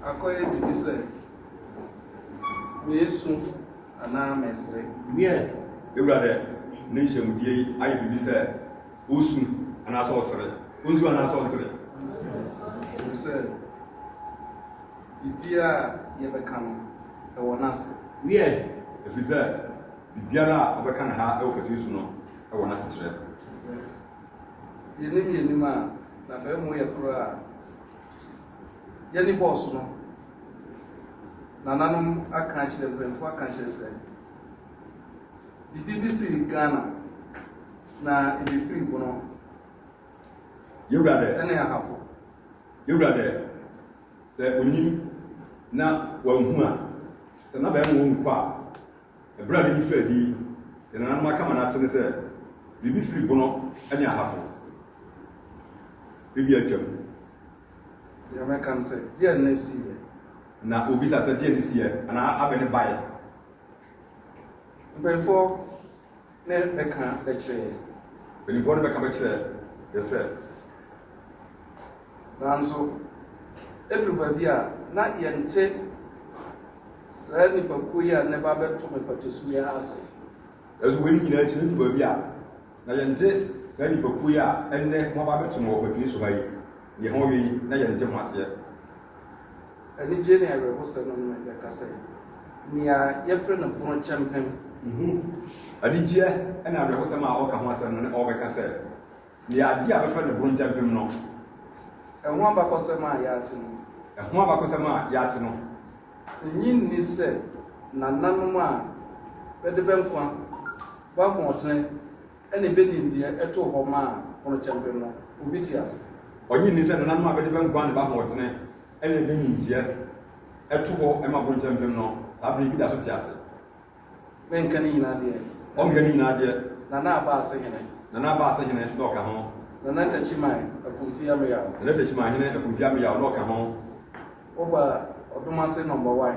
Akɔyɛ biribi sɛ meesu anaa meesere. Wiɛ, ewura dɛ ne nhyɛmudie yi ayɛ biribi sɛ osu anaasɛ ɔsere. Onsu anaasɛ ɔnsere? Efisɛ biribiara a yɛbɛka no, ɛwɔ n'ase. Wiɛ, efiri sɛ biribiara a ɔbɛka no ha wɔ patuo so no wɔ n'asekyerɛ. Yɛnim yɛnim a, na afei mo yɛ koro a. Yɛne bɔs no. Nananom aka akyerɛ, mpanyinfoɔ aka akyerɛ sɛ, bibi bi si Ghana na ebi firi bono. Yɛwura dɛ. Ɛne ahafo. Yɛwura dɛ, sɛ onim na wanhu a, sɛ n'abɛn wɔ mu kɔ a. Bere a midi faa din yɛn nananom aka ma no ate ne sɛ biribi firi Bono ne Ahafo bere bi a atwam. Deɛ mɛka ne sɛ, Deɛn na ɛsiiɛ? Na ɔbisa sɛ, Deɛn na ɛsiiɛ? Anaa abɛ ne baeɛ? Mpanyimfoɔ. ne bɛka bɛkyerɛ yɛn. Mpanimfoɔ no bɛka bɛkyerɛ yɛn sɛ. Nanso, ɛduru baabi a, na yɛnte saa nnipakuo yi a na ɛba abɛto me patasu yi ara ase. Nanso wei ne nyinaa akyi no, ɛduru baabi a, na yɛnte saa nnipakuo yi a ɛnnɛ wɔaba abɛto me wɔ patasu ha yi, deɛ wɔwɛn yi, na yɛnte ho aseɛ. Anigye ne awerɛhosɛ no ne me bɛka sɛ, Nea yɛfrɛ no pono kyɛmpem. Nhu anigyeɛ ne awerɛhosɛm a ɔreka ho asɛm no ne ɔrebɛka sɛ, Nea adeɛ a wɔfrɛ no pono kyɛmpem no. Ɛho abakɔsɛm a yɛate no. Ɛho abakɔsɛm a yɛate no. Nnye nni sɛ nananom a bɛde bɛ nkwa, bɛ ahoɔdene. Ɛna ebenim deɛ ɛtoo hɔ maa Ponokyɛmpe no, obi te ase? Ɔgye nni sɛ nananom a bɛde bɛn guan ba ahoɔdene ɛna ebenim deɛ ɛto hɔ ma Ponokyɛmpem no, saa bere yi bi da so te ase? Menka ne nyinaa deɛ. Ɔnka ne nyinaa deɛ. Nana Aba Asehene. Nana Aba Asehene na ɔka ho. Nana Takyiman Akumfi Ameyaw. Nana Takyiman Hene Akumfi Ameyaw na ɔka ho. Woba Ɔdomase Nɔmba Wan.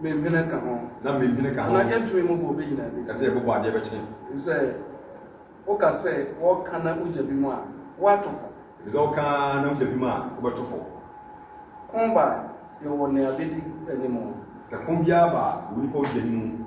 Me nhwene ka ho. Na me nhwene ka ho. Anaa yɛntumi mmobɔ obi nyinaa bi. Ɛsɛ yɛbobɔ adeɛ bɛkyene. Ɛfiri sɛ woka sɛ wɔka na wogya bi mu a, woato fo. Ɛfiri sɛ woka na wogya bi mu a, wobɛto fo. Ko ba a, yɛwɔ nea bɛdi anim. Sɛ ko biara ba a, yɛwɔ nipa a ɔdi anim.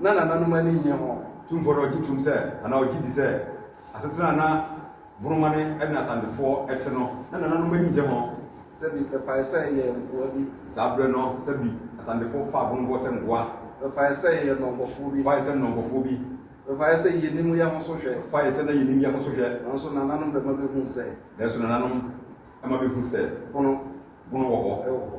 na nananom ani nnye ho. Tumfoɔ no a ɔgye tom sɛ anaa ɔgye di sɛ asetena a na Borɔma ne Edna Asantefoɔ te no na nananom ani nnye ho. Sɛbi bɛfae sɛ ɛyɛ nkoa bi. Saa berɛ no, sɛbi Asantefoɔ faa Borɔmfoɔ sɛ nkoa. Bɛfae sɛ yɛyɛ nnɔnkɔfoɔ bi. Fae sɛ nnɔnkɔfoɔ bi. Bɛfae sɛ yɛnim yɛn ho so hwɛ. Fae sɛ na yɛnim yɛn ho so hwɛ. Nanso nananom bɛma bɛhuu sɛ. Nanso nananom ma bɛhuu sɛ. Bono. Bono wɔ hɔ. Wɔ hɔ.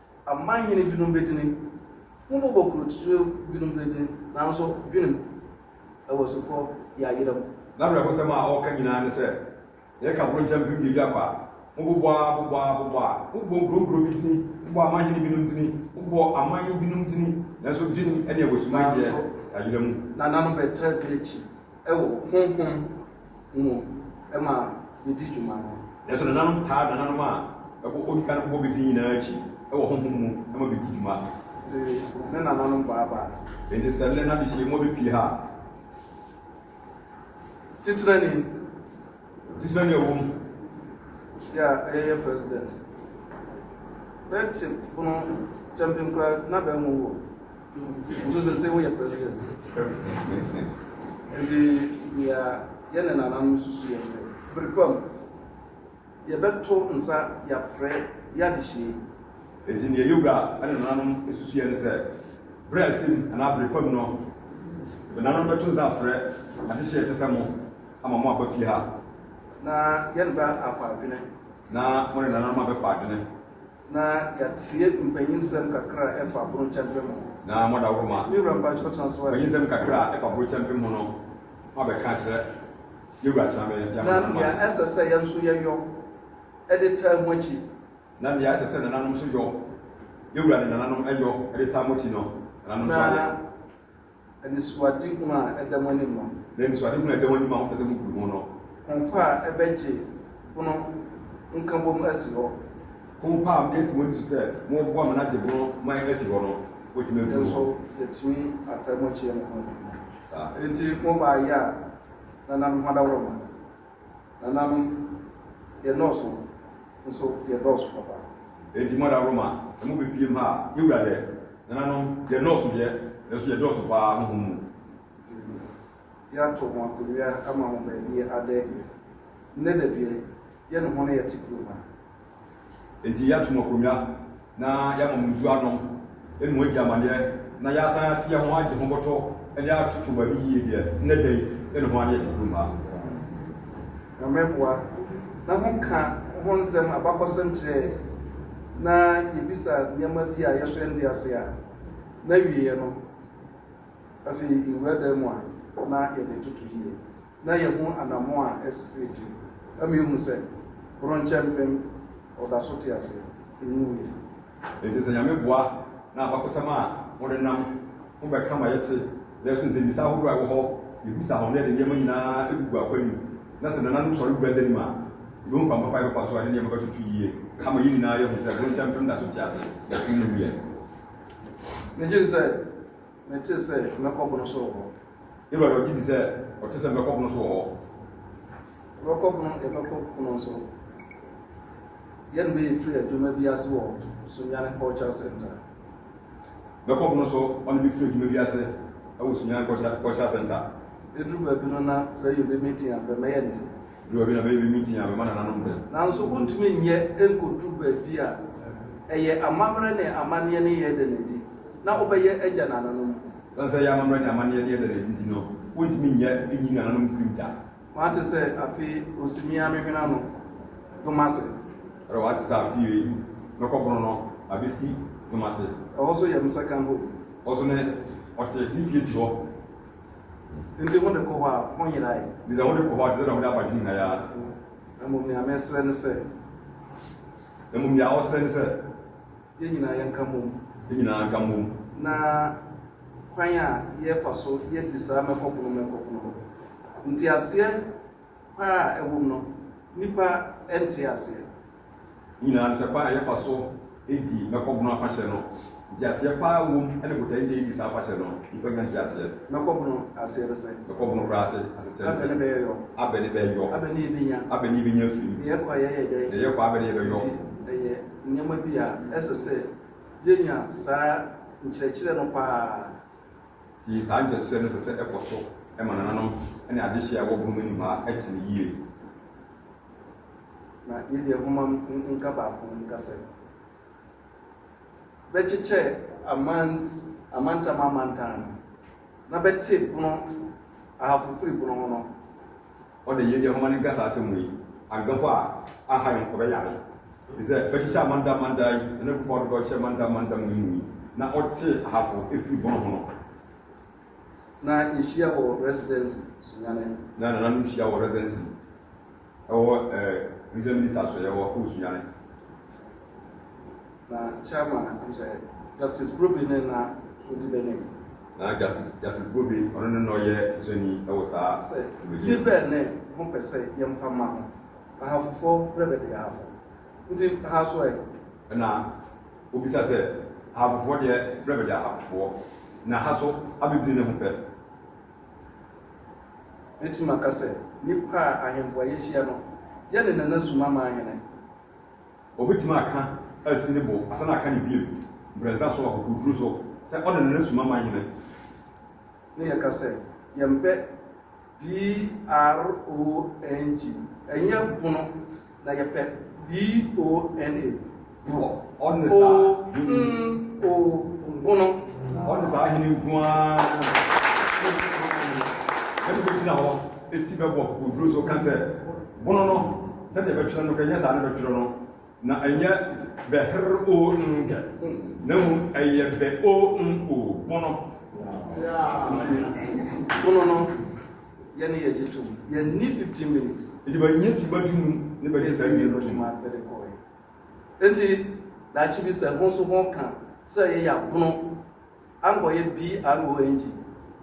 Aman hene binom bɛgyini, Ho mmɔbɔ korɔtutuo binom bɛgyini, Nanso dwenem wɔ asufo yayera mu. N'awerɛhosɛm a ɔreka nyinaa ne sɛ, Yɛka bronkyɛ mpem biebia kwa, Mobobɔ a, bobɔ a, bobɔ a, Mobobɔ nkuronkuro bi dini, Mobɔ aman hene binom dini, Mobobɔ aman binom dini, Nanso dwenem ne awɔsumma deɛ, yayera mu. Nananom bɛtra bi akyi, wɔ honhom mu ma yedi dwuma no. Nanso nananom taa nananom a ɛbɔ odi kan bɔ bedi nyinaa akyi wɔ honhom mu ma bedi dwuma. Enti ne nananom bɔ aba. Enti sɛ nnɛ n'adehyeɛ mu abepue ha a. Titenani. Difɛn na ɛwɔ mu. Yɛ a ɛyɛ yɛ president. Bɛ te pono kyɛmpe nkura na bɛ nwo wɔ. Nso sɛ sɛ wo yɛ president. Nti yɛ a yɛ ne nana no susu yɛn sɛ bere pa mu yɛ bɛ to nsa yɛ afrɛ yɛ adehyee. Nti neɛ yɛ wura ne nananom susu yɛn ne sɛ bere a ɛsɛ mu anaa bere pa mu no yɛ bɛ nananom bɛ to nsa afrɛ adehyee te sɛ mo. ama mo aba fie ha. Na yɛn ba afa adwene. Na mo ne nananom abɛfa adwene. Na yɛatie mpanyinsɛm kakra a ɛfa aboro kyɛmpem ho. Na mo adaworo ma. Me wura mpakyɛw tena so ɛ. Mpanyinsɛm kakra a ɛfa aboro kyɛmpem ho no, mo abɛka akyerɛ yɛn wura tena me de ama nananom ate. Na nea ɛsɛ sɛ yɛn nso yɛyɔ de taa mo akyi. Na nea ɛsɛ sɛ nananom nso yɔ, yɛn wura ne nananom yɔ de taa mo akyi no, nananom nso ayɛ. Anisoadehunu a ɛda mo anim no. Na anisoadehunu a ɛda mo anim a mopɛ sɛ mubu ho no. Hompa a ɛbɛgye bono nkabom asi hɔ. Hompa a esi mo ani so sɛ moboa ma no agye bono ma asi hɔ no, wotumi abu ho. Nanso yɛatumi ataa mu akyia mo ho. Saa. Enti mo baayɛ a, na na me ho adaworo mo. Nananom, yɛnnɔɔso, nso yɛdɔɔso papa. Enti mo da Roma na mo bepiem ha a, yewura dɛ? Nananom, yɛnnɔɔso deɛ, nanso yɛdɔɔso paa honhom mu. Enti yeato mo akonnwa ama mo baabi adɛ deɛ. Nnɛ da deɛ, yɛne mo na yɛte kurom ha. Enti yɛato mo akonnwa na yɛama mo nsu anom ne mo adi amanneɛ, na yɛasan ase yɛ ho agye ho bɔtɔ de atoto mo ani yie deɛ, nnɛ da yi ne ho adeɛ te kurom ha. Nyame boa na ho ka ho nsɛm abakɔsɛm kyerɛɛ na yɛbisa nneɛma bi a yɛhwɛ nte ase a, na wieɛ no afei yɛwura dan mu a na yɛde toto yie. na yɛahu anammɔn a ɛsesɛ atu, ama yɛahu sɛ Koronkyɛ Mpem ɔda so te ase, enwuwui. Enti sɛ Nyame boa na abakɔsɛm a wɔnenam ho bɛka ma yɛte na yɛso nsɛmmisa ahodoɔ a ɛwɔ hɔ, yɛbu saa ho, na yɛde nneɛma nyinaa gugu akwan mu, na sɛ Nananom Sɔre bua danim a, yɛbɛhu kwan papa a yɛbɛfa so a yɛde nneɛma bɛtoto yie, ama yɛn nyinaa yɛahu sɛ Koronkyɛ Mpem da so te ase, enwuwuiɛ. Megye di sɛ. Mete sɛ mɛkɔ bono so wɔ hɔ. Awurade, ɔgye di sɛ ɔte sɛ mɛkɔ bono so wɔ hɔ. Yɛbɛkɔ bono, yɛbɛkɔ bono so. Yɛne bɛ yɛ firi adwuma bi ase wɔ Sunyani Culture Center. Bɛkɔ bono so, ɔne bɛ firi adwuma bi ase ɛwɔ Sunyani Culture Center. Eduru baabi no na bɛyɛ bɛ meeting a bɛ mɛyɛ nti. Duru a bi na bɛyɛ bi mu dinn a, bɛma nananom dɛm. Nanso wontumi nyɛ nkodu baabi a ɛyɛ amammerɛ ne amanneɛ ne yɛ da no adi na wobɛyɛ agya nananom. Esiane sɛ ɛyɛ amammerɛ ne amanneɛ ne yɛ da no adi nti no, wontumi nyɛ nyi nananom mfirim da. Wate sɛ afe yi ɔsimi a mehwene ano dom ase. Ɛrɔ, wate sɛ afe yi mɛkɔ bono no abɛsi dom ase. Ɛhɔ so yɛ me second home. Hɔ so ne ɔte, ne fie si hɔ. Nti hode kɔ hɔ a, honyerae? Bisa, Wode kɔ hɔ a, te sɛ nea wode aba adwene nyinaa yi ara? Mmom nea mesrɛ ne sɛ. Mmom nea ɔsrɛ ne sɛ. Yɛn nyinaa yɛnka mmom. Yɛn nyinaa nka mmom. Na kwan a yɛfa so yɛ di saa mɛkɔpono mɛkɔpono no, nteaseɛ. pa a ɛwom no, nnipa nte aseɛ. Nyinaa no sɛ kwan a yɛfa so di Mɛkɔbono afahyɛ no, nteaseɛ pa ara wom, ɛne botae nti a yɛdi saa afahyɛ no, nnipa nya nteaseɛ. Mɛkɔbono aseɛ ne sɛn? Mɛkɔbono koraa ase ase kyerɛ ne sɛ. Abɛ ne bɛyɛ yɔ. Abɛ ne bɛyɛ yɔ. Abɛ ne yɛbɛnya. Abɛ ne yɛbɛnya afiri mu. Deɛ yɛkɔ a yɛyɛ dɛn? Deɛ yɛkɔ a abɛ ne yɛbɛyɔ. Nti ɛyɛ nneɛma bi a ɛsɛ sɛ yɛnya saa nkyerɛkyerɛ no pa ara. Yiyi saa nkyerɛkyerɛ no sɛ sɛ ɛkɔ so ma nananom ne adehye a ɛwɔ bere mu nnomaa te no yiye. Na yɛde nhoma no nka baako nka sɛ, Bɛkyekyɛ amans amantam amantam no na bɛte bono ahafo firi bono ho no, ɔda yiedɛ homa no nkasa asɛm mu yi, annkɛ hɔ a aha yi ɔbɛyare. Te sɛ bɛkyekyɛ Amanda Amanda yi, Nana Akufo Addo dɔ kyɛ Amanda Amanda mu yi mu yi, na ɔte ahafo ɛfiri bɔn ho no. Na yɛhyia wɔ Residency, Sunyane. Na nananom hyia wɔ Residency ɛwɔ eh, Regional Minister Asoɛeɛ hɔ ɛwɔ Sunyane. Na chairman no nso yɛ Justice Brobbey no na odi bɛnem. Na Justice Justice Brobbey ɔno no na ɔyɛ sosɔni wɔ saa Sɛ dwumadie tiri no. bɛn ne mo pɛ sɛ yɛmfa ma ho? Ahafofoɔ berɛ bɛde Ahafo. Nti ha so ɛ? Ɛna ɔbisa sɛ, Ahafofoɔ deɛ berɛ bɛde Ahafofoɔ, na ha so abɛdini ne ho pɛ? Mɛtumi aka sɛ nnipa a ahemfo a yɛahyia no yɛ ne nana Sumama ahene. Obetumi aka asi ne bo asan aka no bio mprɛnsa so wɔ akokoduru so sɛ ɔne no resom ama Hene. Ne yɛka sɛ yɛmpɛ BRONG, ɛnyɛ bono, na yɛpɛ BONA, borɔ, Ɔne saa Hene. ONG, bono. Ɔne saa Hene nko ara na ɛbɛgyina hɔ si bɛbɔ akokoduru so ka sɛ bono no. Sɛdeɛ ɛbɛtwerɛ no, ɛnyɛ saa na ɛbɛtwerɛ no, na ɛnyɛ bɛ-her-o-n-gɛ, na mmom ɛyɛ bɛ-o-n-o, bono. Nti, bono no, yɛne yɛ gye tom, yɛnni 15 minutes. Nti bɛnyɛ sima du num ne bɛgye saa wie no tom. Nti, daakye bi sɛ ho nso ho ka sɛ yɛyɛ abono, ankɔyɛ BRO engye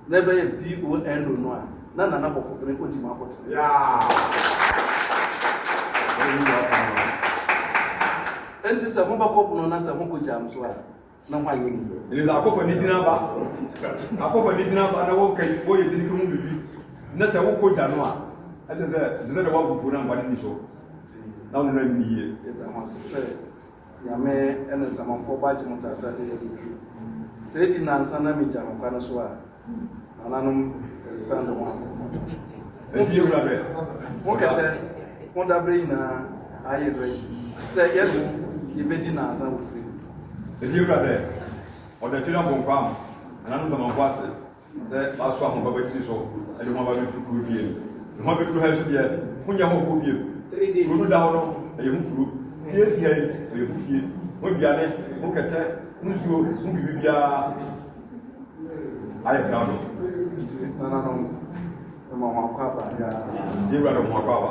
na ɛbɛyɛ BONO no a, na Nana Bɔfobere odi mu akɔtena. Enti sɛ mobɛkɔ bono na sɛ mokɔ gya nso a, na ho ayɛ ni. Elisa akɔfa ne din aba, akɔfa ne din aba na wɔka yi, wɔyɛ din ho biribi. Na sɛ wokɔ gya no a, ɛkyɛ sɛ, ɛkyɛ sɛ na wɔafufuo na nkwa no nni so. Na wɔn nna nni yie. Ɛda ho ase sɛ. Nyame ne Nsamanfoɔ ba Gyemotata de adi duru. Sɛ edi nnansa na megya no kwa no so a, nananom ɛsesa ne ho akokɔ. Ɛfie wura bɛ, wo kɛtɛ ho dabrɛ nyinaa ayɛ ready sɛ yɛne wo yɛbɛdi nnansa wɔ fie. Ɛfie wura bɛ, ɔdɛtwere abonkwaa nananom Nsamanfoɔ ase. Sɛ wɔaso ahoma ba tiri so de ho aba bɛturu kuro bie no, ne ho abɛturu ha yi so deɛ, ho nyɛ hɔ kɔ biem. Kuro no da hɔ no, ɛyɛ ho kuro. Fie si ha yi, ɛyɛ ho fie. Ho aduane, ho kɛtɛ, ho nsuo, ho biribi biara ayɛ krado. Nti nananom, ɛma ho akɔ aba biara. Nti ewura no ho akɔ aba.